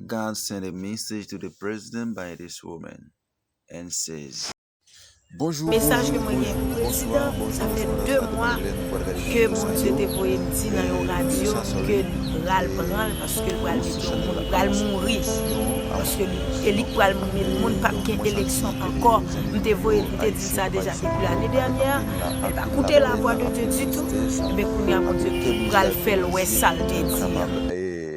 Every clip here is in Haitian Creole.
God send a message to the president by this woman and says. Bonjour bonjour bonjour bonsoir bonjour tout moun sa mwen renmen nou pral gade video sa yo epi video sa sou li pral pranl paske li pral mete yon moun li pral mouri paske li e li pral mouri moun pap gen eleksyon ankò m te voye m te di sa deja depi lane dènyè li pa koute la vwa de Dieu ditou ebyen kounya Bondye pral fèl wè sal te di an.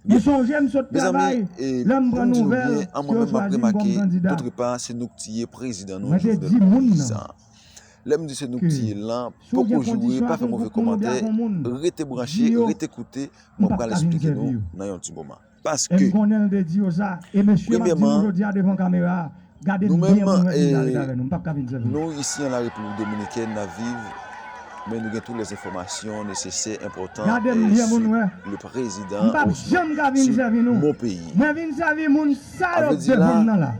Mezanmi, e pou m di nou byen, an mwen menm m ap remake, doutrepa se nou k tiye prezidan nou Jovenel Moïse an. Lè m di se nou k tiye l lan, poko joure, pa fè move komantè, rete branche, rete koute, mwen pral esplike nou nan yon ti moman. Paske, premyèman, Nou menm nou isi an la Repiblik Dominikèn nap viv men nou gen tout les enfòmasyon nesesè enpòtan sou le prezidan osnon sou mon peyi. Avdila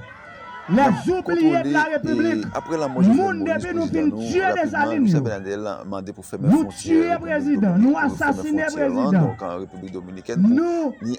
nap kontwole apre lanmò Jovenel Moïse prezidan nou rapidman Michel Bernadel mande pou fèmen fwontyè Repiblik Dominikèn pou fèmen fwontyè lan donk Repiblik Dominikèn pou ni.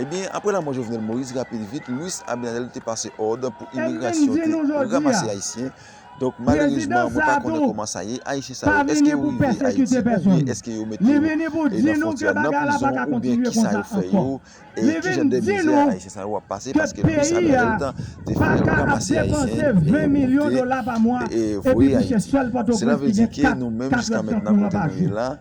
Ebyen, apre lanmò Jovenel Moïse, rapid vit, Louis Abinadel te pase òd pou imigrasyon te ranmase Ayisyen. Donk, malerezman, mwen pa konnen kòman sa ye, Ayisyen sa yo, èske yo rive Ayiti oubyen èske yo mete yo nan fontyè a, nan prizon oubyen kisa yo fè yo e ki jan de mizè Ayisyen sa yo ap pase paske Louis Abinadel te fè ranmase Ayisyen pou te voye Ayiti. Sela vle di ke nou menm jiska mentnan kote nou ye la,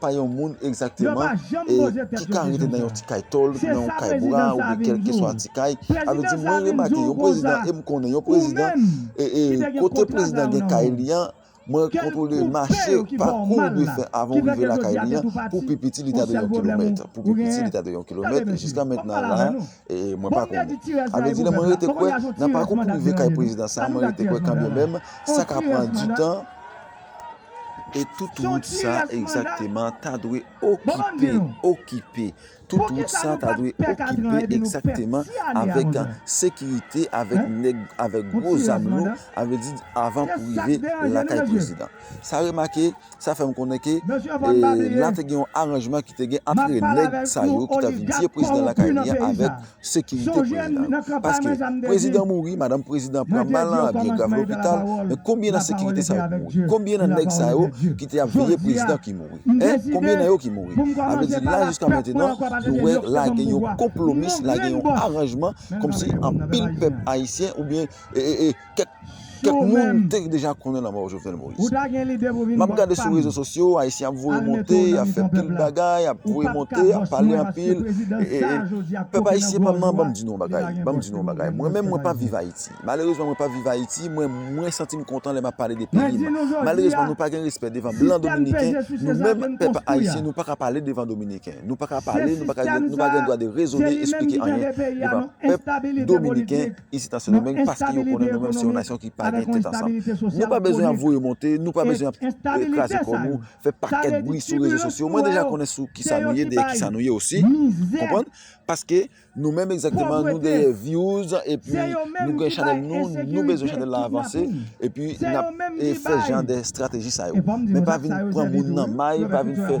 pa yon moun egzakteman ki ka rete nan yon ti kay tòl, nan yon kay bwa oubyen kèlkeswa ti kay. Sa vle di mwen remake yon prezidan e m konnen yon prezidan kote prezidan gen kay li an, mwen kontwole mache, pakou ou dwe fè avan ou rive lakay li an, pou pi piti li ta dwe yon kilomèt. Pou pi piti li ta dwe yon kilomèt, jiska mentnan la, mwen pa konnen. Sa vle di lè mwen rete kwè nan pakou pou rive kay prezidan sa, mwen rete kwè kanmenmenm sa ka pran di tan. E tout wout sa egzakteman ta dwe okipe, okipe, tout wout sa ta dwe okipe egzakteman avèk sekirite, avèk nèg, avèk gwo zam lou, a vle di avan pou rive lakay prezidan. Sa remake, sa fè m konnen ke la te gen yon aranjman ki te gen antre nèg sa yo ki ta vin tiye prezidan lakay li an avèk sekirite prezidan yo paske prezidan mouri madanm prezidan pran mal nan avyon grav lopital men konbyen nan sekirite sa yo ki mouri konbyen nan nèg sa yo ki te ap veye prezidan ki mouri hein konbyen nan yo ki mouri sa vle di la jiska mentenan nou wè la gen yon konplomis la gen yon aranjman kòmsi anpil pèp ayisyen oubyen Kèk moun te deja konnen lanmò Jovenel Moïse. Map gade sou rezo sosyo, Ayisyen ap voye monte, ap fè pil bagay, ap voye monte, ap pale anpil. Pèp Ayisyen pa m nan, banm di nou yon bagay, banm di nou yon bagay. Mwen menm mwen pa viv Ayiti. Malerezman mwen pa viv Ayiti, mwen mwen santi m kontan lè map pale de peyi m. Malerezman nou pa gen respè devan blan dominiken, nou menm pèp Ayisyen nou paka pale devan dominiken. Nou paka pale, nou pa gen dwa de rezone, esplike anyen devan pèp dominiken. isit an Sendomeng paske yo konnen nou menm se yon nasyon ki pa gen tèt ansanm. Nou pa bezwen ap voye monte, nou pa bezwen ap kraze kò nou, fè pakèt bri sou rezo sosyo. Mwen deja konnen sou kisa nou ye, dèyè kisa nou ye osi. Konprann? Paske nou menm egzakteman nou dèyè vyouz epi nou gen chanèl nou, nou bezwen chanèl la avanse epi n ap fè jan de estrateji sa yo. Men pa vin pran moun nan may, pa vin fè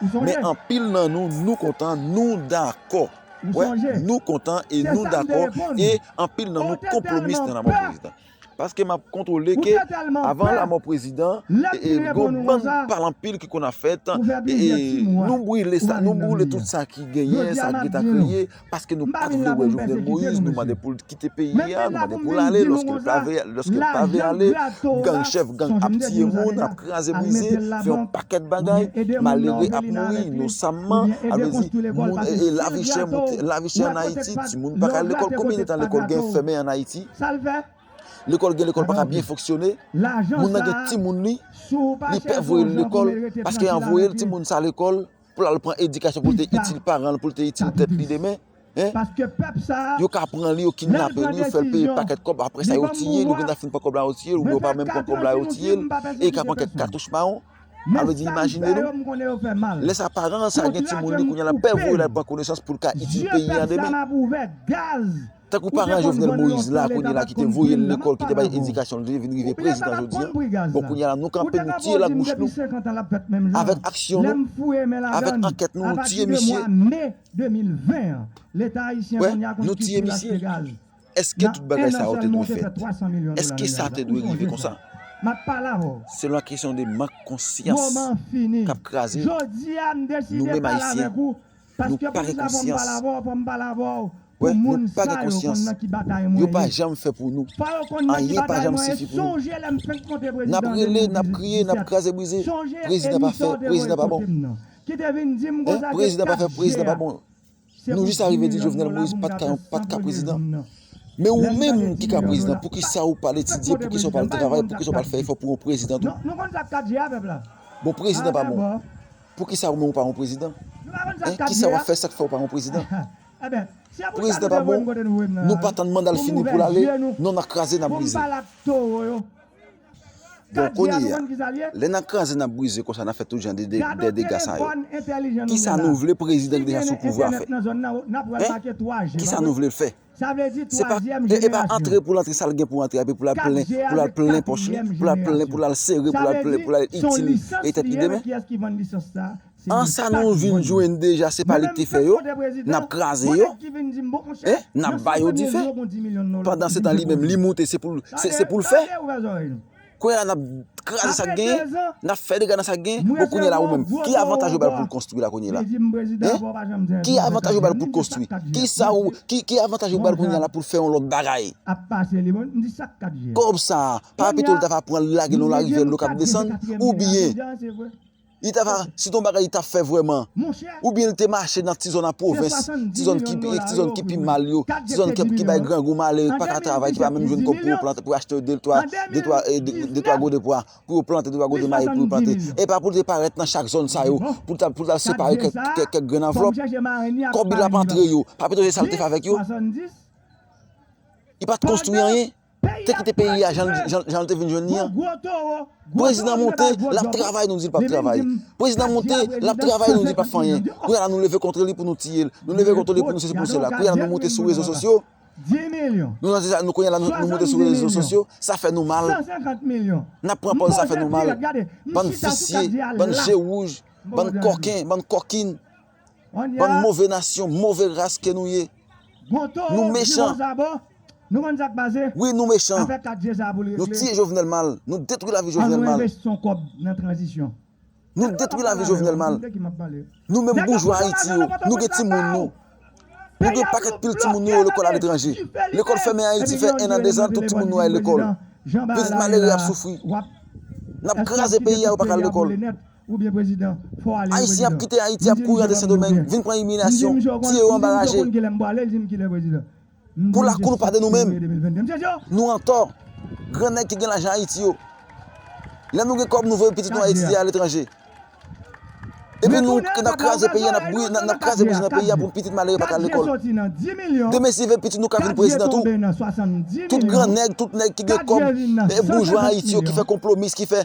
Men anpil nan nou, nou kontan, nou dakò. Wè, nou kontan e nou dakò e anpil nan nou konpwomis nan lanmò prezidan. Paske m ap kontwole ke avan lanmò prezidan, e gon bann pale anpil ki konn ap fèt, e nou brile sa, nou brile tout sa ki genyen, sa ki ta kreye. Paske nou pat vle wè Jovenel Moïse, nou mande poul kite peyi a, nou mande poul ale, lòske l pa vle, lòske l pa vle ale, gang chèf gang ap tiye moun, ap kraze brize, fè yon pakèt bagay, malere ap mouri inosamman, a vle di, moun e lavi chè moute, lavi chè an Ayiti, timoun pa ka al lekòl, konbyen de tan lekòl gen fèmen an Ayiti? Lekòl gen lekòl pa ka byen fonksyone, moun nan gen timoun li, li pè voye l lekòl, paske an voye l timoun sa lekòl. pou l al pran edikasyon pou l te itil paran l, pou l te itil tèt li demen, yo ka pran li, yo kidnape li, yo fè l peye pakèt kòb, apre sa yo tiye l, yo gentan fin pran kòb la yo tiye l, oubyen yo pa menm pran kòb la yo tiye l, e li ka pran kèk katouch mawon. Sa vle di imajine nou, lè sa paran an sa gen timoun li kounye a l ap pè voye l al pran konesans pou l ka itil peyi a demen. Tankou paran Jovenel Moïse la kounye la ki te voye l lekòl ki te bay edikasyon l vle vin rive prezidan jodi an, bon kounye a la nou kanpe nou tiye labouch nou avèk aksyon nou, avèk ankèt nou nou tiye misye. Wè, nou tiye misye. Èske tout bagay sa yo te dwe fèt? Èske sa te dwe rive konsa? Se lan kesyon de mank konsyans k ap kraze nou menm Ayisyen. Nou pa gen konsyans. Wè nou pa gen konsyans. Yo pa janm fè pou nou. Anyen pa janm sifi pou nou. N ap rele, n ap kriye, n ap kraze brize. Prezidan pa fè, prezidan pa bon. Prezidan pa fè, prezidan pa bon. Nou jis arive di Jovenel Moïse pa t ka prezidan. Men ou menm ki ka prezidan, poukisa ou pa al etidye, poukisa ou pa al travay, poukisa ou pa al fè efò pou yon prezidan tou? Bon prezidan pa bon. Poukisa ou menm ou pa yon prezidan? Hein kisa wap fè sak fè ou pa yon prezidan? Prezidan pa bon nou pa tann mandal fini poul ale non nan kraze nan brize. Bon kounyeya lè nan kraze nan brize konsa nan fè tout jan de dega sa yo kisa nou vle prezidan ki deja sou pouvwa fè? Hein kisa nou vlel fè? Se pa e pa antre pou l antre sa l gen pou l antre epi pou l al plen pou l al plen pòch li pou l al plen pou l al sere pou l al plen pou l al itil e tèt li demen. An sa nou vin jwenn deja se pa li ki te fè yo n ap kraze yo e n ap ba yo dife pandan se tan li menm li moute se pou l se pou l fè. Kounye la nap kraze sak genyen, nap fè dega nan sak genyen, bon kounye la ou menm, ki avantaj yo bal poul konstwi la kounye la? Hein? Ki avantaj yo bal poul konstwi? Kisa ou, ki avantaj yo bal kounye la poul fè yon lòt bagay? Kòb sa a, pa pito li ta va pranl lagel nan yon larivyèl dlo kap desann? Ou byen? Li ta va, se te yon bagay li ta fè vrèman. Oubyen li te mache nan ti zòn an pwovens, ti zòn ki pi, ti zòn ki pi mal yo, ti zòn ki bay grangou, malere ki pa ka travay, ki pa menm jwenn kòb pou yo plante, pou yo achte de twa, de twa, de twa gode pwa, pou yo plante, de twa gode mayi pou yo plante. E pa pou li te parèt nan chak zòn sa yo, pou li t'al separe kèk grenn anvlòp. Kòb li t'ap antre yo, pa pito se sa li te fè avèk yo? Li pa t' konstwi anyen? te kite peyi a jan l te vin jwenn li an prezidan monte l ap travay nou di l pap travay prezidan monte l ap travay nou di l pap fè anyen kounya la nou leve kontre li pou nou tiye l nou leve kontre li pou nou sesi pou nou sela kounya la nou monte sou rezo sosyo kounya la nou monte sou rezo sosyo sa fè nou mal n ap pran pòz sa fè nou mal bann visye bann je wouj bann kòken bann kòkin Bann move nasyon move ras ke nou ye nou mechan wi nou mechan nou tiye jovenel mal nou detwi lavi jovenel mal nou detwi lavi jovenel mal nou menm boujwa ayiti yo nou gen ti moun nou nou gen paket pil ti moun nou yo lekol aletranje lekol femen ayiti fe 1 an 2 zan tout ti moun nou al lekol pitit malere ap soufri nap kraze peyi a yo pa ka al lekol. Ou byen prezidan, fò ale wi prezidan. Ayisyen ap kite Ayiti ap kouri antre Sendomeng vin pran imilyasyon, tiye yo anba raje. Pou lakou nou pa de nou menm. Nou antò. Gran nèg ki gen lajan Ayiti yo. Lè nou gen kòb nou voye pitit nou a etidye aletranje. Epi nou nan kraze peyi a nap bri nap kraze bouch nan peyi a pou pitit malere pa ka al lekòl. Demen si ve pitit nou ka vin prezidan tou. Tout gran nèg tout nèg ki gen kòb boujwa Ayiti yo ki fè konplo mis ki fè.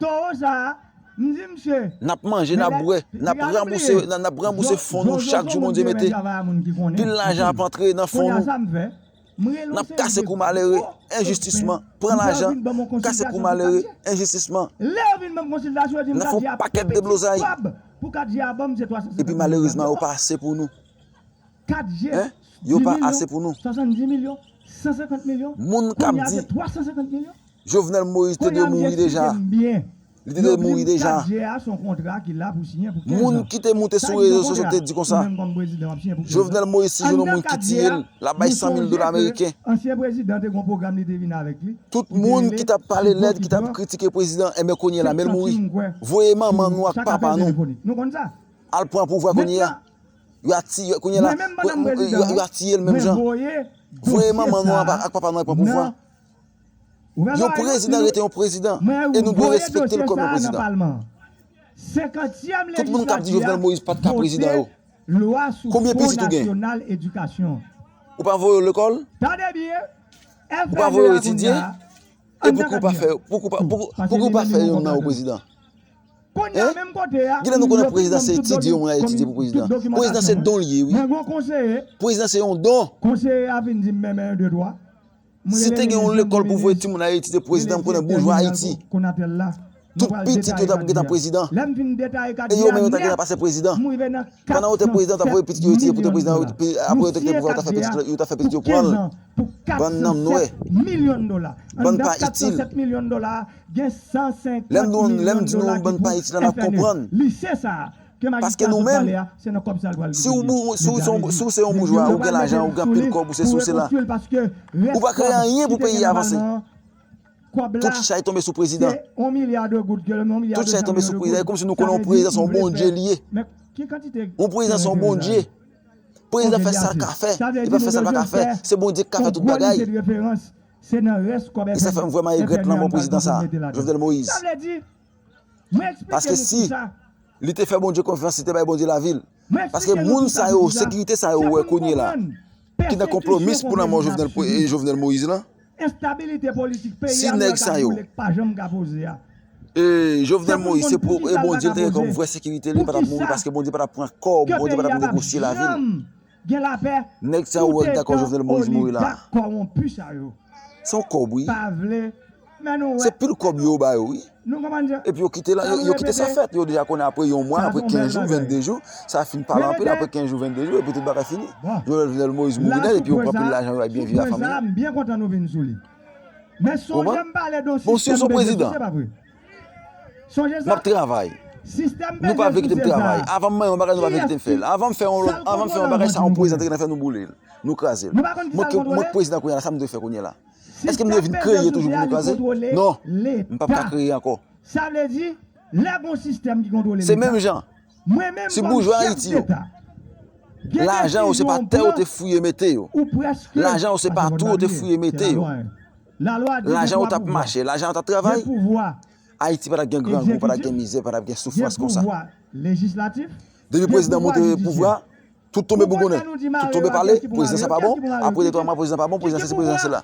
Towo sa m di misye. Nap manje nap bwè nap ranbouse nap ranbouse fon nou chak jou Bondye mete pil lajan ap antre nan fon nou nap kase kou malere enjistisman pran lajan kase kou malere enjistisman nap fon pakèt deblozay epi malerezman yo pa ase pou nou yo pa ase pou nou moun kap di Jovenel Moïse te dwe mouri deja. Li te dwe mouri deja. Moun ki te moute sou rezo sosyo te di konsa. Jovenel Moïse si jwenn yon moun ki tiye l, l ap bay 100 mil dola meriken. Tout moun ki t ap pale lèd, ki t ap kritike prezidan, enben kounye la men l mouri. Voye manman nou ak papa nou al pran pouvwa kounye a. Yo a tiye kounye la. Yo a tiye l menm jan. Voye manman nou ak papa nou al pran pouvwa. Yon prezidan rete yon prezidan e nou dwe respekte l kòm yon prezidan. Tout moun k ap di Jovenel Moïse pa t ka prezidan yo, konbyen pitit ou gen? Ou pa voye yo lekòl? Ou pa voye yo etidye? E pouki ou pa fè youn nan yo prezidan? Kilè nou konnen prezidan se etidye yon moun al etidye pou prezidan? Prezidan se don l ye wi. Prezidan se yon don. Si te gen yon lekòl pou voye timoun Ayiti se prezidan m konnen boujwa Ayiti. Tout pitit yo t ap gentan prezidan. E yo menm yo t ap gentan pase prezidan. Pandan yo te prezidan yo t ap voye pitit yo etidye pou te prezidan apre yo te kite pouvwa yo t ap fè pitit yo pran l. Bann nanm nwè. Bann pa itil. Lè m di nou bann pa itil la n ap konprann. Paske nou menm, si w bou, si w son, si w se yon boujwa, ou gen lajan, ou gen anpil kòb, ou sesi, ou sela, ou pa kreye anyen pou peyi a vanse. Tout chay tonbe sou prezidan. Tout chay tonbe sou prezidan. E kòmsi nou konnen yon prezidan se yon Bondye li ye. Yon prezidan se yon Bondye. Prezidan fè sa l ka fè. Li pa fè sa l pa ka fè. Se Bondye ki ka fè tout bagay. E sa fè m vrèman regrèt lanmò prezidan sa a, Jovenel Moïse. Mwen eksplike nou pou sa. Li te fè Bondye konfyans, li te bay Bondye lavi l. Mwen eksplike nou pou sa, se pou nou konprann. Ki nan konplomis pou lanmò Jovenel Moïse lan. Enstabilite politik peyi a mwen ka boule k pa janm ka poze a. E Jovenel Moïse se pou e Bondye l te gen kòm vrè sekirite li pa t ap mouri paske Bondye pa t ap pran kò, Bondye pa t ap negosye lavi l. gen lapè Nèg sa yo wè li ta kò Jovenel Moïse mouri la. Se yon kòb wi. Se pil kòb yo ba yo wi. Epi yo kite la, yo kite sa fèt. Yo deja konnen apre yon mwa, apre 15 jou, 22 jou, sa fin pale anpil apre 15 jou, 22 jou epi tout bagay fini. Jovenel Moïse mouri nèt epi yo pran pil lajan yo al byen viv ak fanmi li. Ou konprann? Bon si yo son prezidan. Map travay. Nou pa vle kitem travay. Avanm manyen yon bagay nou pa vle kitem fel. Avanm fe yon lot, avanm fe yon bagay sa yon pwezidan te gentan fe nou boule l. Nou kraze l. Mwen ki mwen ki pwezidan kounye la sa m dwe fe kounye la. Eske m dwe vin kreye toujou pou nou kraze? Non. M pap ka kreye anko. Se menm jan. Se boujwa ayiti yo. Lajan yo se pa te yo te fouye mete yo. Lajan yo se pa tou yo te fouye mete yo. Lajan ou t ap mache, lajan yo t ap travay, Ayiti pa t ap gen grangou, pa t ap gen mizè, pa t ap gen soufrans konsa. Depi prezidan monte pouvwa, tout tonbe bougonnen, tout tonbe pale, prezidan sa pa bon, apre de twa mwa prezidan pa bon, prezidan sesi, prezidan sela.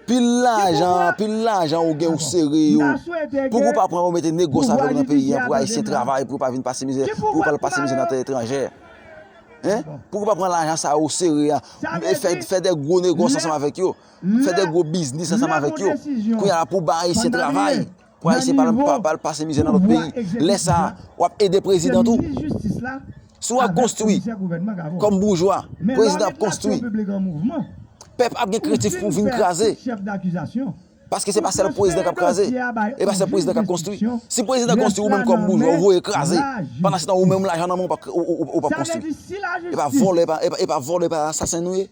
Pil lajan, pil lajan ou gen ou sere yo, pouki ou pa pran yo mete negosye avè yo nan peyi an pou Ayisyen travay, pou yo pa vin pase mizè, pou yo pa al pase mizè nan tè etranjè. Pouki ou pa pran lajan sa yo ou sere an, fè de gwo negosye ansanm avèk yo. Fè de gwo biznis ansanm avèk yo. Kounya la pou ban Ayisyen travay. Pou Ayisyen pa al pase mizè nan lòt peyi. Lè sa a, w ap ede prezidan tou. Si w ap konstwi, kòm boujwa, prezidan ap konstwi. Pèp ap gen kritif pou vin kraze. Paske se pa sèl prezidan k ap kraze. E pa sèl prezidan k ap konstwi. Si prezidan konstwi, ou menm kòm boujwa, ou voye kraze. Pandansetan, ou menm lajan nan men w ou pa konstwi. E pa vòlè, e pa asasen nou ye?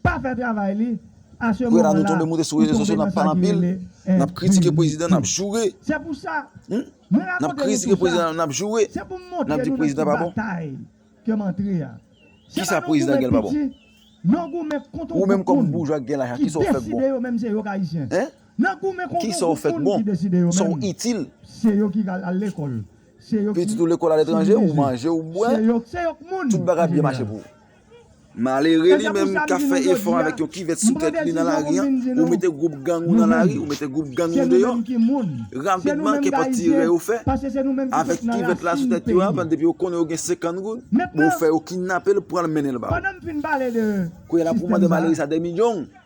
Pou eta nou tonbe moute sou rezo sosyo nap pale anpil, nap kritike prezidan, nap joure, nap kritike prezidan, nap joure, nap di prezidan pa bon. Kisa prezidan gen l pa bon? Ou menm kòm boujwa ki gen lajan kisa ou fè k bon? Kisa ou fè k bon? Sa ou itil? Pitit ou lekòl aletranje, ou manje, ou bwè, tout bagay ap byen mache pou ou. Malere li menm kap fè efò avèk yon kivèt sou tèt li nan lari an, ou mete gwoup gang ou nan lari, ou mete gwoup gang ou deyò, rapidman kenpòt tirè yo fè, avèk kivèt la sou tèt yo a, depi yo konnen yo gen 50 goud, bon ou fè yo kinnapel pranl mennenl ba ou. Kounye la pou mande malere sa demi djong.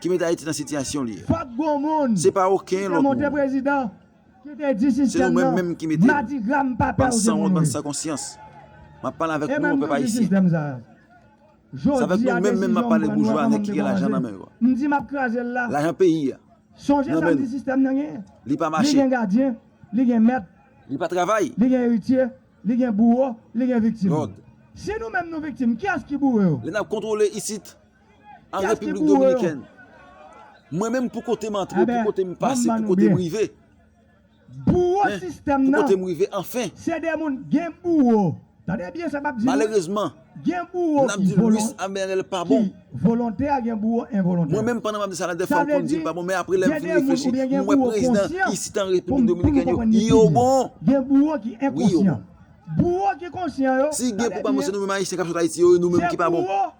ki met Ayiti nan sitiyasyon li a. Fòk gon moun Se pa oken ki te lòt monte moun. prezidan ki te di Se sistèm nou menm nan menm ki mete l. madigra m pa pè Bann ou se sanwont, moun bann wi. san konsyans. M ap pale avèk E nou menm pèp nou di ayisyen. sistèm sa a. Se avèk Jodi nou a menm menm m ap desizyon m pale pran nou wè boujwa nèg kòman m ki gen lajan dekouraje. nan men yo a. M di m ap kraze l la. Lajan peyi a Sonje nan sa men m di nou. sistèm nan genyen. Li pa Li mache. gen gadyen, li gen mèt, Li pa travay. li gen eritye, li gen bouwo, li gen viktim. Lòd. Si nou menm nou viktim, kiyès ki boure yo? Lè n ap kontwole isit. an Repiblik Dominikèn. Mwen menm pou kote m antre, pou kote m pase, pou kote m rive. Pou kote m rive anfen. Malerezman, n ap di Louis Amel pa bon. Mwen menm pandan m ap di sa la defwa m konn di m pa bon, men apre lè m fin reflechi, m wè prezidan isi tan Repiblik Dominikèn yo, yo bon. Si gen pou pa bon se nou menm Ayisyen k ap sot Ayiti yo, nou menm ki pa bon.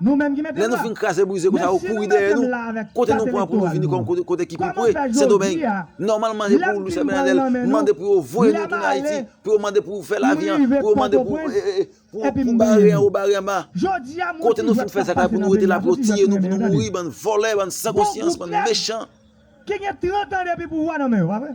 Nou menm ki mete m la. Lè nou fin kraze brize konsa ou kouri dèyè nou, kote nou pran pou nou vini kòm kote ki pi pre, Sendomeng. Nòmalman se pou Louis Abinader mande pou yo voye nou tounen Ayiti, pou yo mande pou fè lavi an, pou yo mande pou pou bare anwo bare anba. Kote nou fin fè zak la pou nou rete la pou yo tiye nou, pou nou mouri, bann vòlè, bann san konsyans, bann mechan. Ki gen 30 an depi pouvwa nan men yo, pa vre?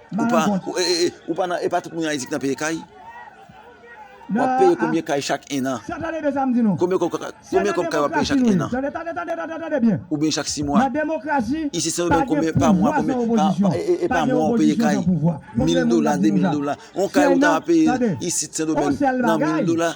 Ou pa ou pa nan e pa tout moun ayiti ki nan peye kay wap peye konbyen kay chak 1 an konbyen kob konbyen kob kay wap peye chak 1 an oubyen chak 6 mwa isi se nan konbyen pa mwa konbyen e pa mwa wap peye kay 1000 dola 2000 dola on kay ou ta peye isit sendomeng nan 1000 dola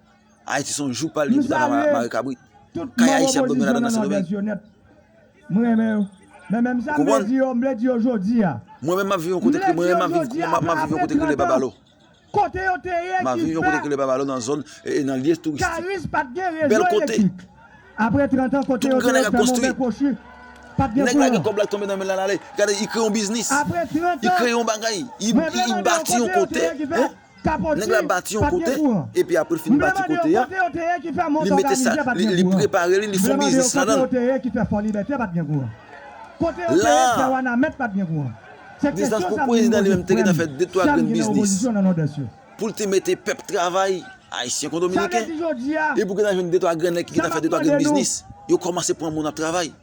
Ayiti son jou pal li bouda nan mare kabrit. Kay ayisyen ap domine ladan nan sendomeng. Ou konprann? Mwen menm map viv yon kote mwen menm map viv yon kote ki rele babalo. Map viv yon kote ki rele babalo nan zòn nan lye touristik. Bèl kote. Tout gran nèg ap konstwi. Nèg la gen kòb la k tonbe nan menl la lale. Gade li kreye yon biznis. Li kreye yon bagay. Li bati yon kote. Nèg la bati yon kote, epi apre l fin bati kote a, li mete sa, li prepare li, li fon biznis ladan l. La a, distans pou prezidan li menm te gentan fè de twa grenn biznis pou l te mete pèp travay, Ayisyen kon Dominiken, epi ou gentan jwenn de twa grenn nèg ki gentan fè de twa grenn biznis, yo kòmanse pran moun ap travay.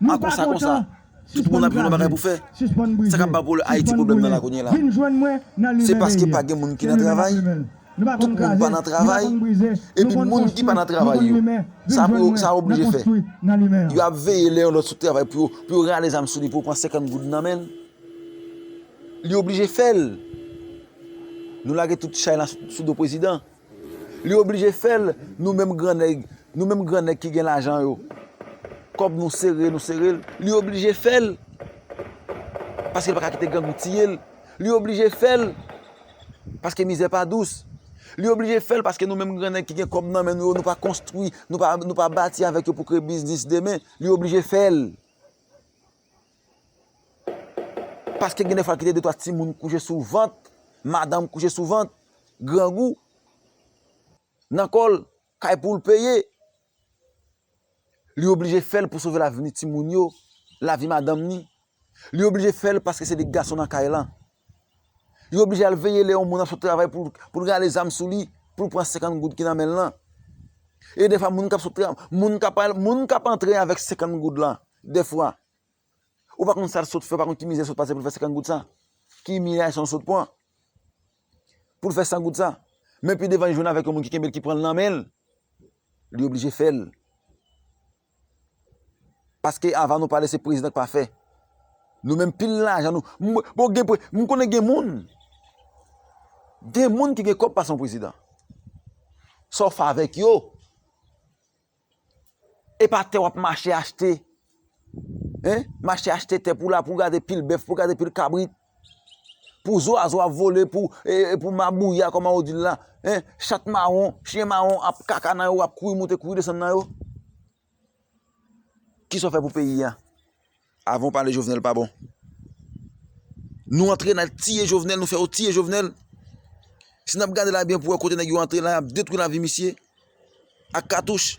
Nou pa kontan? Sispann kraze, sispann brize, sispann boule, vin jwenn mwen nan Lumen Veillée. Se paske pa gen moun ki nan travay, nou pa konn kraze, nou pa konn brize, nou konn konstwi, nou konn limen, vin jwenn mwen nan konstwi nan limen an. Yo ap veye lè yon lòt sot travay pou yo rale zam sou li pou yo pran 50 goud nan men l. Li oblije fè l. Nou lage tout chay la sou do prezidan. Li oblije fèl nou menm gran nèg nou menm gran nèg ki gen lajan yo kòb nou sere nou serel li oblije fèl paske paka kite grangou tiyel li oblije fèl paske mizè pa dous li oblije fèl paske nou menm gran nèg ki gen kòb nan men nou yo nou pa konstwi nou pa bati avèk yo pou kreye biznis demen li oblije fèl. Paske gen defwa kite de twa timoun kouche sou vant, madanm kouche sou vant, grangou, nan kòl, kay poul peye, li oblije fèl pou sove lavni timoun yo, lavi madanm ni, li oblije fèl paske se li gason nan kay lan. Li oblije al veye lè yon moun ap sot travay pou l rale zam sou li, pou l pran 50 goud ki nan men l lan. E defwa moun k ap sot travay, moun k ap antre avèk 50 goud lan, defwa, ou pa konn sa l sot fè, ou pa konn ki mizè l sot pase pou l fè 50 goud sa, ki imilyasyon l sot pran pou l fè 100 goud sa. Men pi devan li jwenn avèk yon moun ki kenbe l, ki pran l nan men l, li oblije fè l. Paske avan nou pale se prezidan k pa fè. Nou menm pil lajan nou. M konnen gen moun. Gen moun ki gen kòb pase yon prezidan. Sa w fè avèk yo. E pa tè w ap mache achte. Mache achte tè pou w la pou w gade pil bèf pou w gade pil kabrit. Pou zwazo ap vole pou pou mabouya kòman yo dil la hein chat mawon chyen mawon ap kaka nan yo ap kouri moute kouri desann nan yo kisa w fè pou peyi a avan w pale jovenel pa bon nou antre nan tiye jovenel nou fè yo tiye jovenel si nap gade la byen pou wè kote nèg yo antre la yap detwi lavi misye ak katouch.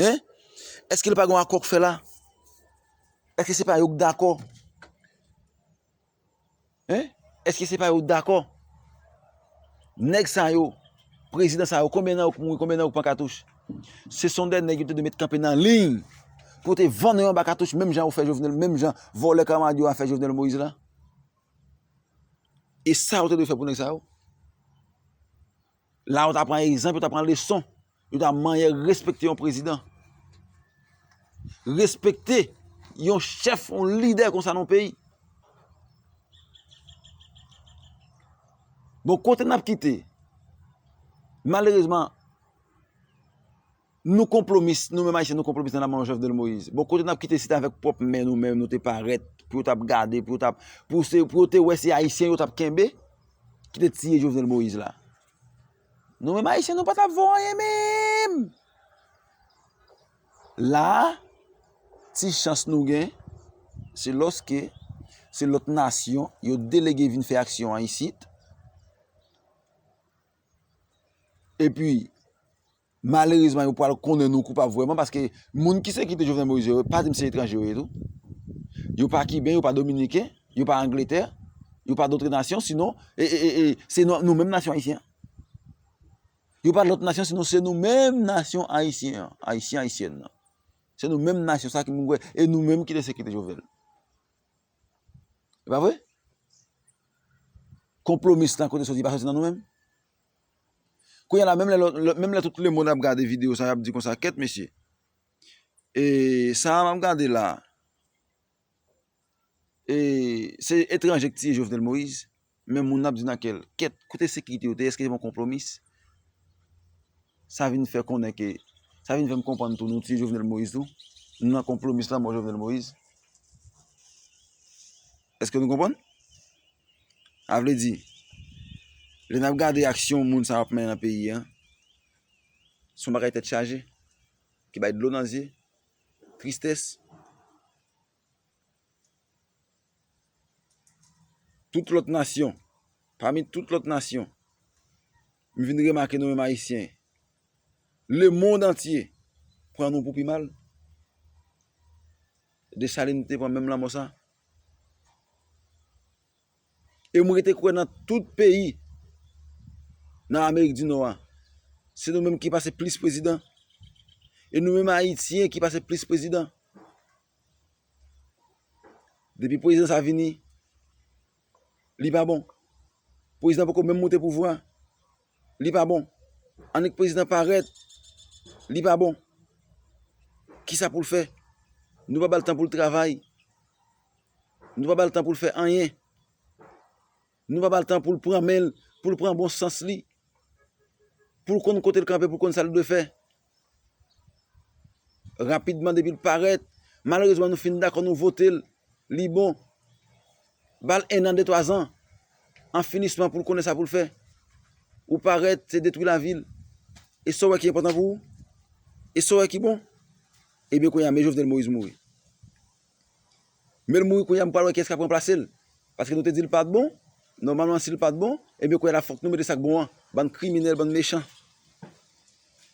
Hein? Eske li pa gon akò k fè la? Eske se pa yo k dakò? Hein? Eske se pa yo k dakò? Nèg sa yo, prezidan sa yo, konbyen nan yo k mouri, konbyen nan yo k pran katouch? Se son de nèg yo te dwe met kanpe nan liy pou yo te vann yo anba katouch menm jan yo fè Jovenel, menm jan vòlè kamarad yo a fè Jovenel Moïse la. E sa yo te dwe fè pou nèg sa yo? La yo ta pran egzanp, yo ta pran leson, yo ta manyè respekte yon prezidan. Respekte yon chèf, yon lidè konsa nan yon peyi. Bon, kote n ap kite? Malerezman. Nou konplomis, nou menm Ayisyen nou konplomis nan lanmò Jovenel Moïse. Bon kote nap kite si te avèk pwòp men nou menm nou te parèt pou yo tap gade, pou yo tap, pou yo te wè se Ayisyen yo tap kenbe ki te tiye Jovenel Moïse la. Nou menm Ayisyen nou pa tap vo anyen menm! La a, ti chans nou gen, se lòske se lòt nasyon yo delege vin fè aksyon an isit, epi Malerezman yo pwal konnen nou koupab vwèman paske moun ki sekite Jovenel Moïse yo pa dim se etranje yo ye tou. Yo pa kiben, yo pa dominiken, yo pa angletè, yo pa dotre nasyon sinon e e e se nou menm nasyon ayisyen. Yo pa lòt nasyon sinon se nou menm nasyon ayisyen an, ayisyen ayisyèn nan. Se nou menm nasyon sa ki moun kwè e nou menm ki te sekite Jovenel. E pa vre? Konplomis lan kote soti pa soti nan nou menm? Kounya la menm lè lòt menm lè tout lemond ap gade video sa yap di konsa kèt mesye e sa map gade la e se etranje ki tiye Jovenel Moïse men moun nan ap di nan kèl kèt kote sekirite yo te eske se pa yon konpwomis sa vin fè konnen ke sa vin fèm konprann tou nou tiye Jovenel Moïse tou nan konpwomis lanmò Jovenel Moïse. Eske nou konprann? A vle di, lè nap gade aksyon moun sa yo ap mennen nan peyi an, se yon bagay tèt chaje, ki bay dlo nan zye, tristès. Tout lòt nasyon, pami tout lòt nasyon, m vin remake nou menm Ayisyen, lemond antye pran nou pou pi mal. Desalin te pran menm lanmò sa? E mwen rete kwè nan tout peyi nan Amerik di Nò a, se nou menm ki pase plis prezidan, e nou menm Ayityen ki pase plis prezidan. Depi prezidan sa vini, li pa bon. Prezidan poko menm moute pouvwa. Li pa bon. Annik prezidan parèt. Li pa bon. Kisa pou l fè? Nou pa ba l tan pou l travay. Nou pa ba l tan pou l fè anyen. Nou pa ba l tan pou l pran men l, pou l pran bon sans li, pou l konn kote l kanpe, pou l konn sa l dwe fè. Rapidman depil parèt, malerezman nou fin dakò nou votel, li bon. Bal 1 an 2 3 zan, an finisman poul konnen sa poul fè. Ou parèt se detwi lavil. Eske saw wè ki enpòtan pou ou? Eske saw wè ki bon? Ebyen kounya me Jovenel Moïse mouri. Menl mouri kounya nou pral wè kiyès kap ranplasel paske nou te dil pat bon nòmalman sil pat bon ebyen kounya la fòk nou mete sak bon an bann kriminèl bann mechan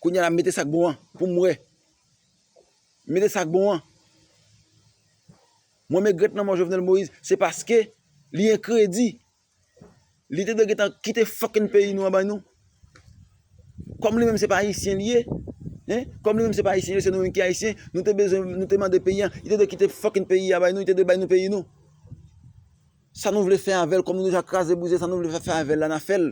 kounya la mete sak bon an poum wè mete sak bon an mwen megrèt lanmò Jovenel Moïse se paske li enkredi Li te dwe gentan kite fucking peyi nou an bay nou. Kòm li menm se pa ayisyen li ye, hein, kòm li menm se pa ayisyen li ye, se nou menm ki ayisyen, nou te bezwen, nou te mande peyi an, li te dwe kite fucking peyi a bay nou, li te dwe bay nou peyi nou. Sa nou vle fè avèl, kòm nou deja kraze brize, sa nou vle fè avèl la na fèl.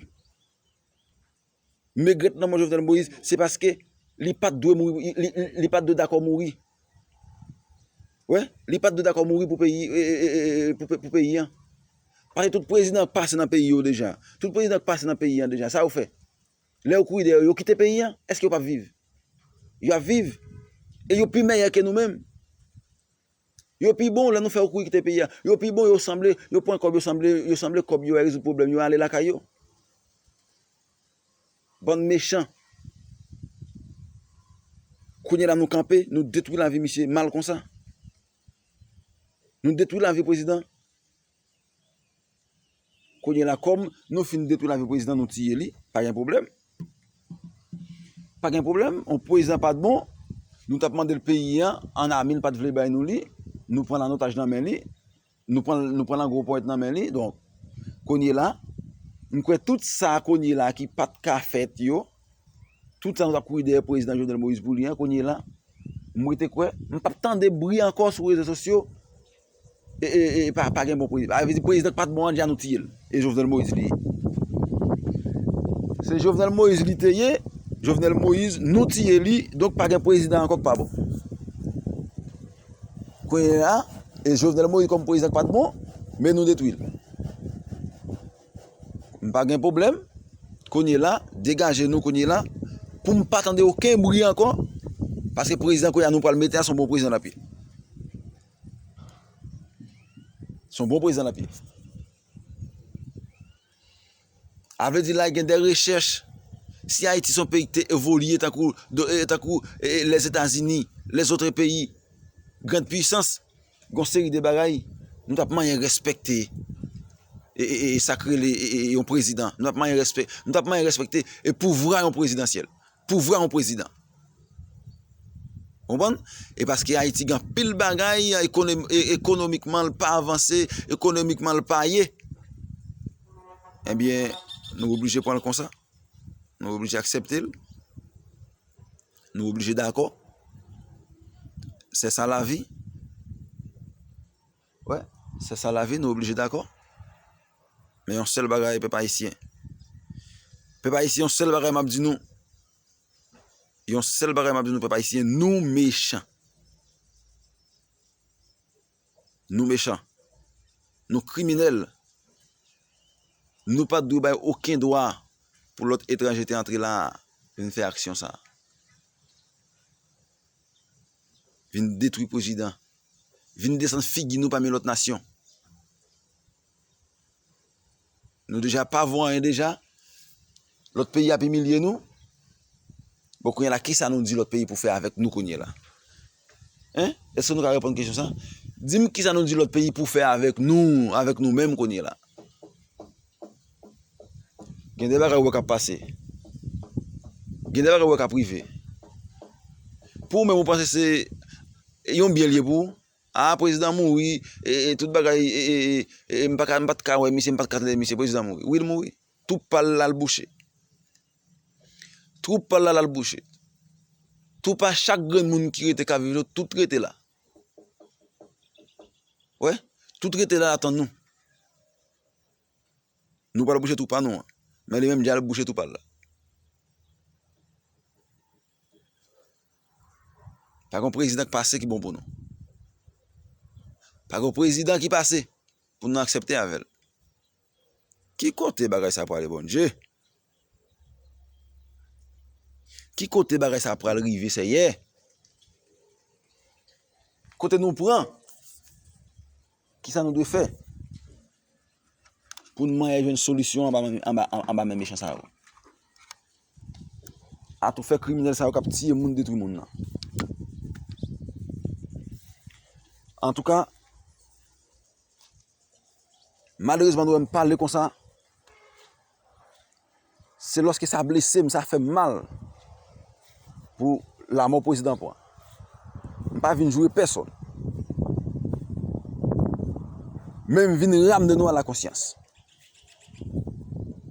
M regrèt lanmò Jovenel Moïse se paske li pat dwe mouri li pat dwe dakò mouri wè li pat dwe dakò mouri pou peyi pou peyi an pase tout prezidan k pase nan peyi yo deja tout prezidan k pase nan peyi an deja sa yo fè lè yo kouri dèyè yo yo kite peyi an èske yo pap viv yo ap viv e yo pi mèyè ke nou menm. Yo pi bon lè nou fè yo kouri kite peyi a. Yo pi bon yo sanble yo pran kòb yo sanble yo sanble kòb yo a rezoud pwoblèm yo ale lakay yo. Bann mechan. Kounye la nou kanpe nou detwi lavi misye mal konsa. Nou detwi lavi prezidan. Kounye la kòm nou fin detwi lavi prezidan nou tiye li, pa gen pwoblèm. Pa gen pwoblèm, yon prezidan pat bon, nou tap mande l peyi an, an ami l pat vle bay nou li, nou pran l an otaj nan men li, nou pran l an gwo ponyèt nan men li, donk kounye la, m kwè tout sa kounye la ki pat ka fèt yo, tout sa nou tap kouri dèyè prezidan Jovenel Moïse pou li an, kounye la, m rete kwè, m pap tande bri ankò sou rezo sosyo. Pagen bon prezidan. Avè di prezidan ki pat bon an di a nou tiyel. E Jovenel Moïse li ye. Se Jovenel Moïse li te ye. Jovenel Moïse nou tiye li. Donk pagen prezidan ankò ki pa bon. Kwenye a. E Jovenel Moïse kom prezidan ki pat bon. Men nou detwil. M pagen problem. Kwenye la. Degaje nou kwenye la. Poum pa tande oken bri ankò. Paske prezidan kwenye a nou pral mete a son bon prezidan lapi. Son bon prezidan lap ye. A vle di la gen de rechèch. Si Ayiti son peyi ki te evolye tankou Lèzetazini, lèzotre peyi, grand pwisans, gon seri de bagay, nou tap manyen respekte e sakrele yon prezidan. Nou tap manyen respekte e pouvwa yon prezidansyèl. pouvwa yon prezidan ou konprann e paske ayiti gen anpil bagay ekonomikman l pa avanse ekonomikman l pa ye ebyen nou oblije pran l konsa nou oblije aksepte l nou oblije dakò se sa lavi Wè, se sa lavi, nou oblije dakò. Men yon sèl bagay pèp ayisyen, pèp ayisyen yon sèl bagay m ap di nou, yon sèl bagay m ap di nou pèp ayisyen, nou mechan. Nou mechan, nou kriminèl, nou pa t dwe bay oken dwa pou lòt etranje te antre la a vin fè aksyon sa a. Vin detwi pwezidan. Vin desann figi nou pami lòt nasyon. Nou deja pa vo anyen deja. Lòt peyi ap imilye nou. Bon kounye la kisa nou di lòt peyi pou fè avèk nou kounye la? Hein? Eske nou ka reponn kesyon sa? Dim kisa nou di lòt peyi pou fè avèk nou, avèk nou menm kounye la? Gen de bagay ou wè k ap pase. Gen de bagay ou wè k ap rive. Pou ou menm ou panse se yon byen l ye pou ou. A, prezidan an mouri, e tout bagay, e m pa ka, m pa t ka wè misye, m pa t ka tande misye, prezidan an mouri. Wi l mouri. Twoup pa l la al bouche. Twoup pa l la al bouche. Twoup a chak grenn moun ki rete k ap viv la, tout rete la. Ou wè? Tout rete la atan nou. Nou pral bouche twou pa nou an. Men li menm li al bouche twou pa l la. Pa gen prezidan k pase ki bon pou nou. Pa gen prezidan ki pase pou nou aksepte avè l. Ki kote bagay sa prale Bondye? Ki kote bagay sa pral rive sèyè. Kote nou pran. Kisa nou dwe fè. Poun mwen e jwenn solisyon anba men mechan sa yo. A tou fè kriminel sa yo kap tiye moun detwi moun nan. An tou ka. Malerezman nou wèm pale konsa. Se loske sa blese m, sa fè m mal pou lamò pwezidan pran. M pa vin joure pèsonn. Men m vin ramne nou a la konsyans.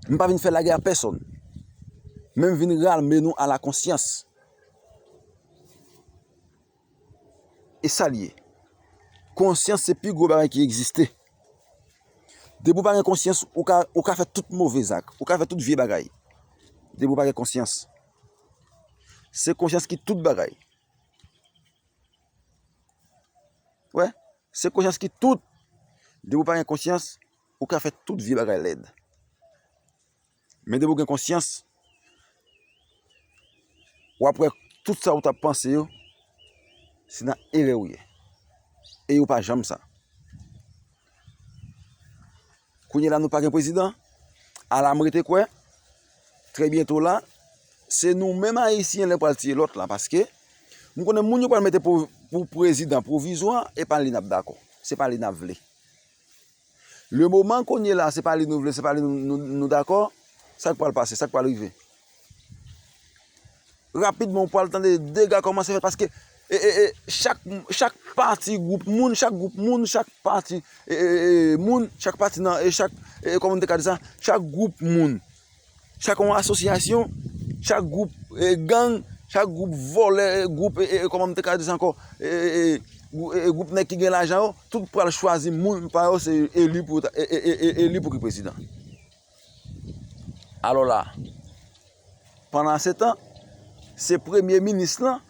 M pa vin fè lagè a pèsonn. Men m vin ramne nou a la konsyans. E sa l ye? Konsyans se pi gwo bagay ki egziste. Depi ou pa gen konsyans, ou ka fè tout move zak, ou ka fè tout vye bagay. Depi ou pa gen konsyans. Se konsyans ki tout bagay. Wè, se konsyans ki tout. Depi ou pa gen konsyans, ou ka fè tout vye bagay lèd. Men depi w gen konsyans, w ap wè tout sa ou t ap panse yo, se nan erè ou ye. E yo pa janm sa. Kounye la nou pa gen prezidan, ala m rete kwè, trè byento la, se nou menm Ayisyen lè pral tiye lòt la. Paske, m konnen moun yo pral mete pou prezidan pwovizwa, e pa li n ap dakò. Se pa li n ap vle. Le moman kounye la se pa li nou vle se pa li nou dakò sak pral pase sak pral rive rapidman ou pral tande dega kòmanse fèt paske chak pati gwoup moun chak gwoup moun chak pati moun chak pati nan chak gwoup moun chak yon asosyasyon, chak gwoup gang, chak gwoup vòlè, gwoup e kòman m te ka di sa ankò e gwoup nèg ki gen lajan yo, tout pral chwazi moun pa yo se eli pou yo ta eli pou ki prezidan. Alò la, pandan se tan, se premye minis lan,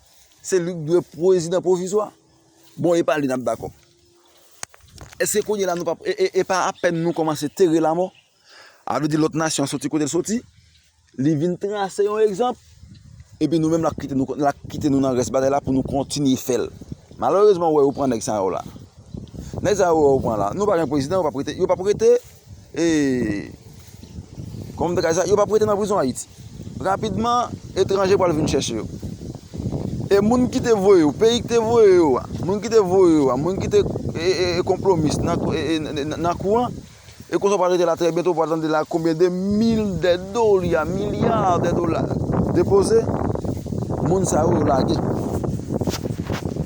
se li k dwe prezidan pwovizwa. Bon, e pa li n ap dakò. Eske kounye la nou pa p e pa apèn nou kòmanse tere lamò? A vle di lòt nasyon soti kote l soti, li vin trase yon egzanp, epi nou menm l ap kite nou, l ap kite nou nan rès batay la pou nou kontinye fè l. Malerezman ou wè yo pran nèg sa yo la. Nèg sa yo wè yo pran la, nou pa gen prezidan, yo p ap rete, yo p ap rete e, kòman m te ka di sa, yo p ap rete nan prizon Ayiti. Rapidman etranje pral vin chèche yo. E moun ki te voye yo, peyi ki te voye yo a, moun ki te voye yo a, moun ki te konplomis nan kou an, E konsa w pa rete la trè byento w pral tande la konbyen de mil de dolya, milya de dola depoze moun sa yo yo lage.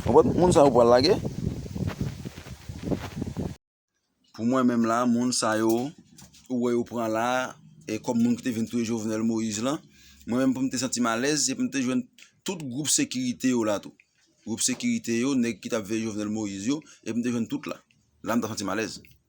Konprann? Moun sa yo pral lage. Pou mwen menm la moun sa yo ou wè yo pran la e kòm moun ki te vin touye Jovenel Moïse lan, mwen menm pou m te santi m alèz se pou m te jwenn tout gwoup sekirite yo la tou. Gwoup sekirite yo, nèg ki t ap veye Jovenel Moïse yo, e pou m te jwenn tout la. La m ta santi m alèz.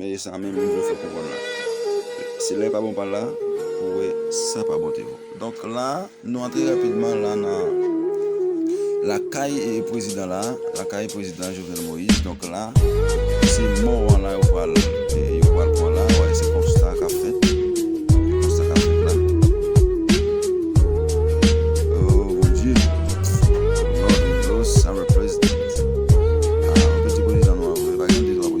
Men e sa menm li vle fè kouvòn la. Se lè pa bon pa la pou wè sa pa bon Théo. Donk la nou antre rapidman la nan lakay prezidan la, lakay prezidan Jovenel Moïse. Donk la se mò an la yo pral yo pral pran la. Wè se konsta k ap fèt. Se konsta k ap fèt la. Oh mon Dieu! Lord we lost our president. Ah, anpil ti prezidan nou an vre. Pa gen 2, 3 prezidan.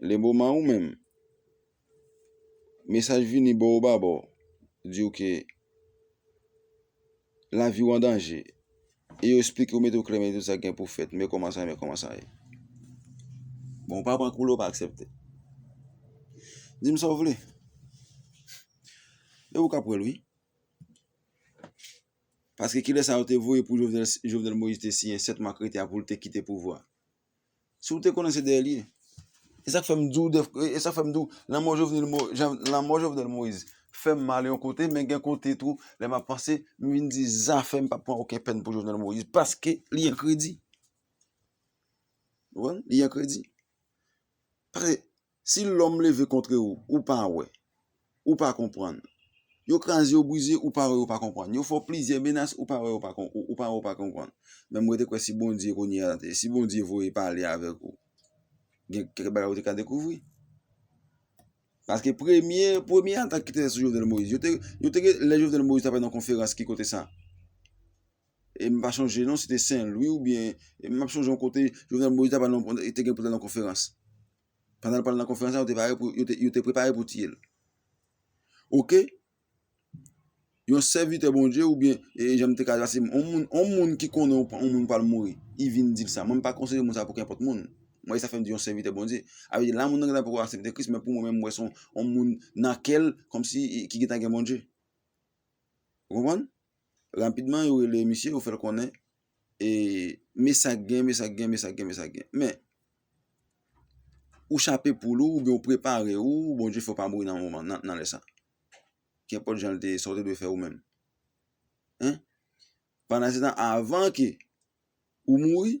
Leboman ou menm mesaj vini bò ou ba bò diw ke lavi ou an danje e yo esplike ou mete ou klè men tout sa gen pou fèt men kòman sa men kòman sa ye bon ou pa pran kou la ou pa aksepte dim sa ou vle e ou ka pranl wi paske kilè sa yo te voye pou Jovenel Moïse te siyen 7 ma krete a poul te kite pouvwa. Si ou te konnen se dèyèl ye. E sak fèm diw dèf e sak fèm diw lanmò jovenel mo jan lanmò jovenel moïse fèm mal yon kote men gen kote tou lè map panse m vin di zafèm pap pran oken pèn pou jovenel moïse paske li an kredi ou konprann li an kredi paske Si lòm leve kontre ou, ou pa wè, ou pa konprann. Yo kraze, yo brize, ou pa wè, ou pa konprann. Yo fè w plizyè menas, ou pa wè, ou pa wè, ou pa konprann. Men mwen te kwè si Bondye kounye a, si Bondye voye pale avèk ou, gen kèk bagay ou te ka dekouvri. Paske premye, premye atak ki te fèt sou Jovenel Moïse, yo te, yo te gen, lè Jovenel Moïse te ap fè yon konferans ki kote sa? E m pa chonje non, se te Sen Lwi oubyen, e m ap chonje yon kote, yo gen Moyiz te gen pou l al nan konferans. Pandan l pral nan konferans la, yo te pare pou, yo te prepare pou tiye l. Ok, yon sèvitè Bondye oubyen, e jan m te ka di la, se yon moun, yon moun ki konnen yon moun pral mouri, li vin di l sa. Mwen m pa konside moun sa pou kenpòt moun. Mwen e sa fè m di yon sèvitè Bondye. A vle di la moun nan gentan poko aksepte Kris, men pou mwen menm m wè se yon moun nan kè l, kòmsi ki gentan gen Bondye. Ou konprann? Rapidman yo rele misye yo fèl konnen e me sak gen me sak gen me sak gen me sak gen men ou chape poul ou oubyen ou prepare ou Bondye fè ou pa mouri nan moman nan lè sa kenpòt jan l te ye sa ou te dwe fè ou menm pandan se tan avan ke ou mouri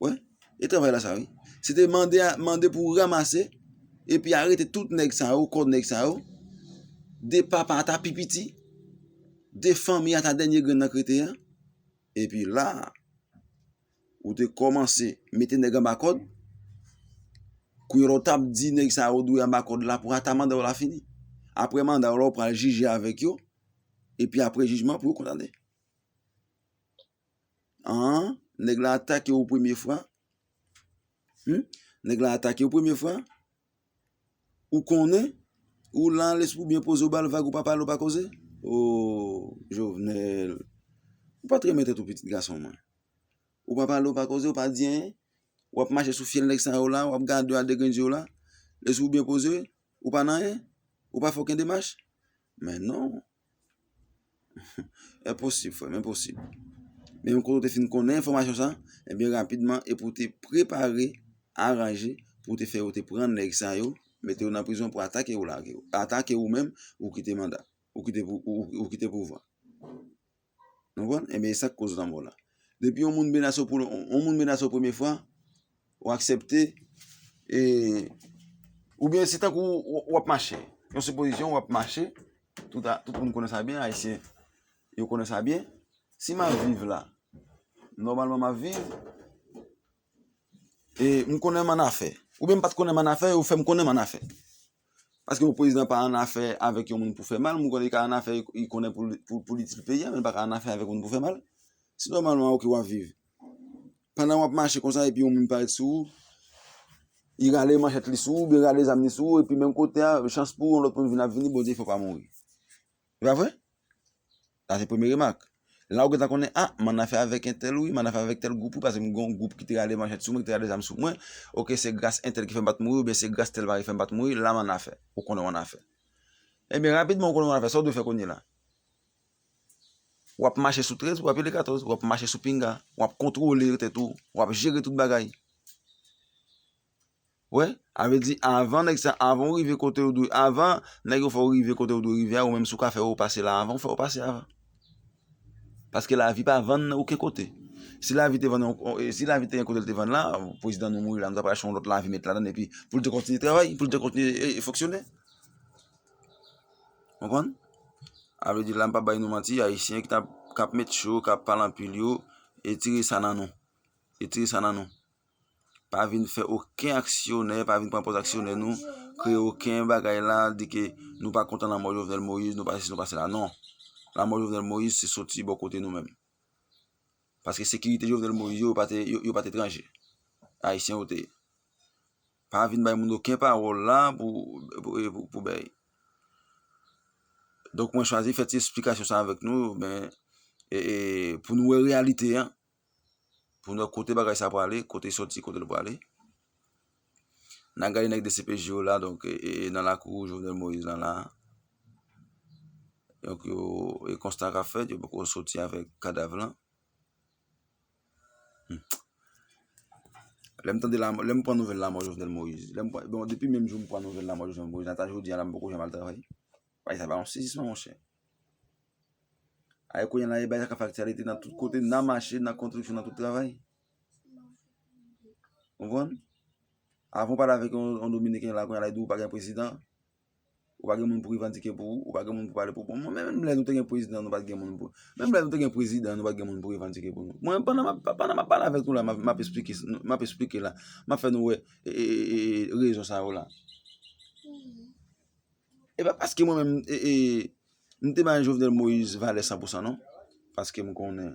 Wè, e travay la sa wi. Se te mande a, mande pou ramase, epi arete tout nèg sa yo, kò nèg sa yo, de papa ata pi piti, de fanmi ata dènye grenn nan krete a, epi la, ou te kòmanse mete nèg anba kòd, kou yon lò tap di nèg sa yo dwe anba kòd la pou ata manda yo la fini. Aprè manda yo la ou pral jije avèk yo, epi aprè jijman pou yo kondane. Aah nèg lan atake ou premye fwa humm nèg lan atake ou premye fwa ou konnen ou lan lespri ou byen poze ou bal vag ou pa pale ou pa koze ooh Jovenel ou pat renmen tèt ou pitit gason mwen ou pa pale ou pa koze ou pa di anyen wap mache sou fyèl nèg sa yo la wap gade yo a 2 grenn zye w la lespri ou byen poze ou pa nan anyen ou pa fè oken demach Men non. Enposib frèm, enposib. Men yon kote ou te fin konnen enfòmasyon sa, enbyen rapidman e pou te prepare, aranje, pou te fè yo te pran nèg sa yo, mete yo nan prizon pou atake yo lage yo. Atake ou menm, ou kite manda. Ou kite pouvwa. Nou konprann? Enben e sak koz lanmò la. Depi yon moun menase w pou yon moun menase w premye fwa, ou aksepte e oubyen se tankou ou ap mache. Yon sipozisyon ou ap mache, tout a tout moun konnen sa byen, ayisyen yo konnen sa byen, si m ap viv la, nòmalman m ap viv. e m konnen m annafè oubyen m pa t konnen m annafè yo fè m konnen m annafè paske yon prezidan pa annafè avèk yon moun pou fè mal m konnen li ka annafè li konnen pou li itil peyi a men li pa ka annafè avèk yon moun pou fè mal si nòmalman ok w ap viv pandan w ap mache konsa epi yon moun parèt sou ou li rale manchèt li sou ou oubyen li rale zam li sou ou epi menm kote a chans pou ou yon lòt moun vin ap vini Bondye fè w pa mouri E pa vre? Sa se premye remak. La ou gentan konnen, a, m ann afè avèk entèl wi, m ann afè avèk tèl gwoup wi paske m gen yon gwoup ki te rale manchèt sou mwen, ki te rale zam sou mwen. Oke, se gras entèl ki fè m pa t mouri oubyen se gras tèl bagay ki fè m pa t mouri, la m ann afè. Ou konnen w ann afè. Ebyen, rapidman ou konnen w ann afè, sa w dwe fè kounye la? W ap mache sou 13 pou w apile 14, w ap mache sou pinga, w ap kontwole tèt ou, w ap jere tout bagay. Wè, a vle di avan nèg sa, avan ou rive kote ou dwe, avan nèg yo fè ou rive kote ou dwe rive a, ou menm si ou ka fè ou pase la avan, ou fè ou pase avan. Paske lavi pa vann oken kote. Si lavi te vann, si lavi te gen kote li te vann la, prezidan nou mouri la, nou ta pral achte yon lòt lavi met ladann epi pou li te kontinye travay, pou li te kontinye fonksyone. Ou konprann? A vle di la m pa bay nou manti, ayisyen k ap met cho, k ap pale anpil yo, etire sa nan nou. Etire sa nan nou. pa vin fè oken aksyonè, pa vin pran pòz aksyonè nou, kreye oken bagay la, di ke nou pa kontan lanmò Jovenel Moïse, nou pa se si, nou pa se la, non. Lanmò Jovenel Moïse se soti bò kote nou menm. Paske sekirite Jovenel Moïse yo, yo pa te etranje. Ayisyen yo te ye. Pa vin bay moun oken pawòl la pou bèy. Donk mwen chwazi fè ti esplikasyon sa avèk nou, pou nou wè reyalite an. pou nou wè kote bagay sa prale, kote l soti, kote l prale. Nan gade nèg dcpj yo la, donk nan lakou Jovenel Moïse lan la. Donk yo, e konsta ka fèt, yo poko soti avèk kadav lan. Lè m tande la, lè m pran nouvèl lanmò Jovenel Moïse, lè m pran, bon depi menm jou m pran nouvèl lanmò Jovenel Moïse, ata jodi a la m poko janm al travay. Bagay sa pa yon sezisman monchè. Ae kounye la e bagay sa ka fè aktyalite nan tout kote, nan mache, nan kontriksyon, nan tout travay. Ou konprann? Avan ou pale avèk yon dominiken la kounye la li di ou pa gen prezidan, ou pa gen moun pou revandike pou ou, ou pa gen moun pou pale pou ou. Menm lè nou te gen prezidan nou pa t gen moun pou, menm lè nou te gen prezidan nou pa t gen moun pou revandike pou nou. Mwen pandan m ap pale avèk nou la m ap esplike, m ap esplike la, m ap fè nou wè rezon sa yo la. E pa paske mwen menm m te bay Jovenel Moïse valè san pou san non. Paske m konnen.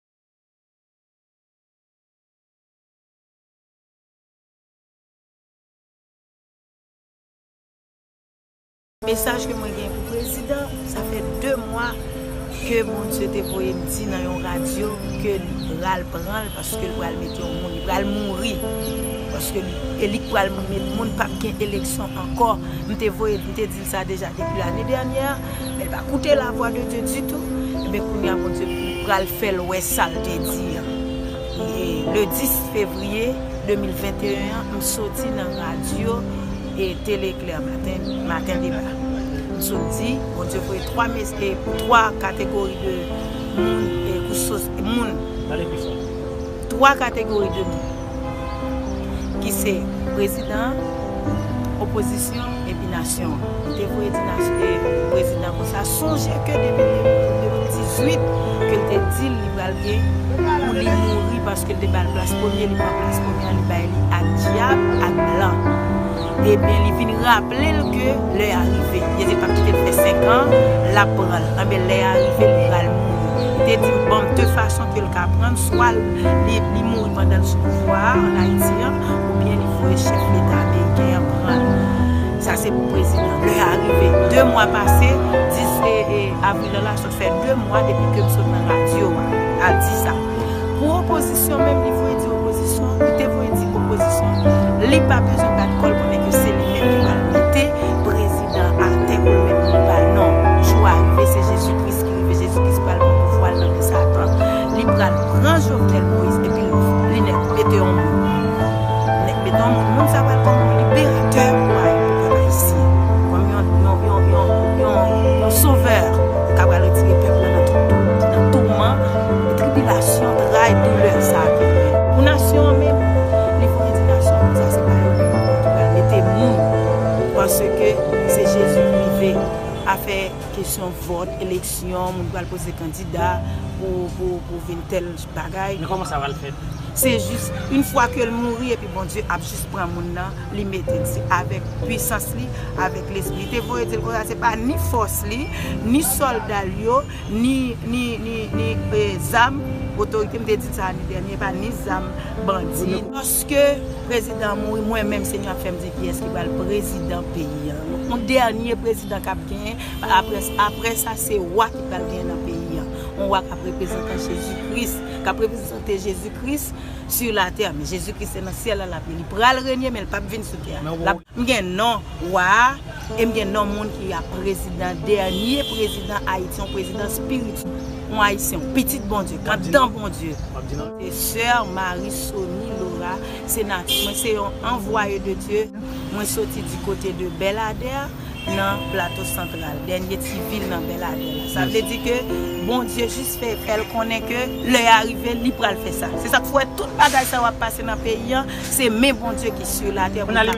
Mesaj ke mwen gen pou prezidan, sa fè 2 mwa ke Bondye te voye m di nan yon radyo ke li pral pran l paske li pral mete yon moun, li pral mouri paske li e li k pral moun, moun pap gen eleksyon ankò, m te voye m te di. sa deja depi lane dènyè a men li pa koute la vwa de Dye ditou enben kounye a Bondye pral fè l wè sa l te di an e le 10 fevriye 2021 an m soti nan radyo e tele eklè maten maten deba m sot di Bondye voye 3 mes e 3 kategori de moun e kou sos moun pale pi fò 3 kategori de moun. ki se prezidan an, opozisyon an epi nasyon an. Li te voye di prezidan an konsa, sonje ke depi li te mouri an 2018 ke li te di l li pral gen pou li mouri paske li te ba l plas premye, li pran plas premye an li bay li ak dyab, ak blan. Ebyen li vin raple l ke lè a rive. Li te di l pap kite l fè 5 an, lap pran l. Anben lè a rive li pral mouri. Li te di m banm 2 fason ke l ka pran l, swa li mouri pandan l sou pouvwa a an Ayiti an, oubyen li voye chèf leta ameriken an pran l. Sa se pou prezidan. Lè a rive. 2 mwa pase, 10 avril lan la sot. fè 2 mwa depi kem sot nan radio a al di sa pou opozisyon menm li voye di opozisyon ou te voye di opozisyon li pa bezwen bat kòl pou nèg yo se li menm ki pral mete prezidan atè pou l met moun pa l non jou a rive se jezi kris ki rive jezi kris pral pran pouvwa l nan men satan li pral pran jovenel moïse epi l li nèt mete on moun. Etan moun, moun sa pral kòm yon liberatè pou a yon pèp ayisyen, kòm yon yon sovè ka pral retire pèp lan nan tout doulè, nan touman, nan tribilasyon, tray, doulè sa a ke li. Pou nasyon an menm, li fon endikasyon pou sa se pa yo menm ankò ki pral mete moun paske se Jezi ki rive afè kesyon vòt, eleksyon, moun pral poze kandida pou pou vin tèl bagay. Men koman sa pral fèt? Se jis yn fwa ke l mouri epi Bondye ap jis pran moun nan li mete l se avèk pwisans li avèk lespri li te voye di l konsa se pa ni fòs li ni sòlda l yo ni ni ni ni e zam otorite m te di l sa ane dènye epa ni zam bandi yo. Lòske prezidan an mouri mwen menm senyè ap fè m di kiyès ki pral prezidan peyi a yon dènye prezidan kap genyen aprè aprè sa se wa ki pral genyen nan peyi a. yon wa kap reprezantan Jezi Kris, kap reprezante Jezi Kris sur la tè, men Jezi Kris se nan syèl la lap ye, li pral renye men li pap vin sou tè a. M gen non wa a e m gen non moun ki ap prezidan dènye prezidan Ayiti yon prezidan spirityèl yon ayisyen yon pitit Bondye kap dan Bondye. Soeur Marie Sony Laura se natif mwen se yon anvwaye de Dieu mwen soti di kote de Belladère. nan Plato Santral, dènye ti vil nan Bèladè la. Sa vle di ke Bondye jis fè fè l konnen ke lè a rive li pral fè sa. Se sa k fè w wè tout bagay sa yo ap pase nan peyi an, se men Bondye ki su latè pou l ka.